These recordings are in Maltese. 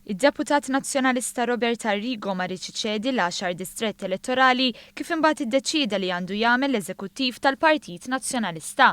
Id-Deputat Nazzjonalista Robert Arrigo ma riedx iċedi l-għaxar distrett elettorali kif imbagħad iddeċieda li għandu jagħmel l-Eżekuttiv tal-Partit Nazzjonalista.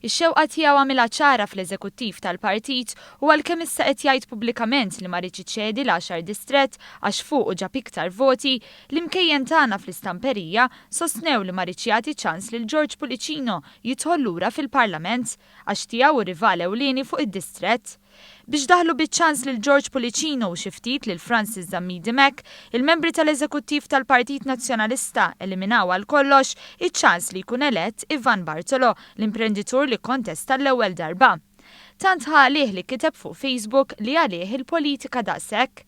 Ix-xewqa tiegħu għamilha ċara fl-Eżekuttiv tal-Partit u għalkemm issa qed jgħid pubblikament li ma riedx iċedi l-għaxar distrett għax fuqu ġab iktar voti, l-imkejjen tagħna fl-istamperija sostnew li ma riedx jagħti ċans lil George Pullicino jidħol lura fil-Parlament għax tiegħu hu rival ewlieni fuq id-distrett. Biex daħlu biċ-ċans lil George Pullicino u xi ftit lil Francis Zammidi Mack, il-membri tal-Eżekuttiv tal-Partit Nazzjonalista eliminaw għal kollox iċ-ċans li jkun elett Ivan Bartolo, l-imprenditur li kkontesta l-ewwel darba. Tant ħa għalih li kiteb fuq Facebook li għalih il-politika daqshekk?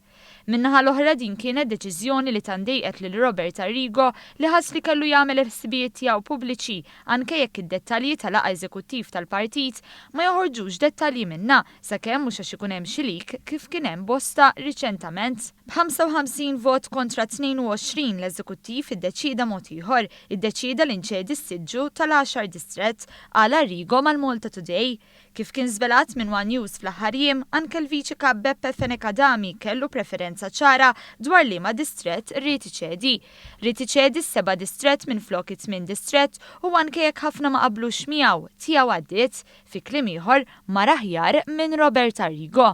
Min-naħa l-oħra din kienet deċiżjoni li tant dejqet lil Robert Arrigo li ħass li kellu jagħmel il-ħsibijiet tiegħu pubbliċi anke jekk id-dettalji ta' laqgħa eżekuttiv tal-partit ma joħorġux dettalji minnha sakemm mhux għax ikun hemm xi leak kif kien hemm bosta riċentament. B'55 vot kontra 22 l-eżekuttiv iddeċieda mod ieħor, iddeċieda li nċedi s-siġġu tal-għaxar distrett, qal Arrigo mal-Malta Today. Kif kien żvelat minn one News fl-aħħar jiem, anke l-Viċi Kap Beppe Fenech Adami kellu preferenza ċara dwar liema distrett ried iċedi. Ried iċedi s-seba' distrett minflok it-tmien distrett u anke jekk ħafna ma qablux miegħu, tiegħu għaddiet. Fi kliem ieħor, mar aħjar minn Robert Arrigo.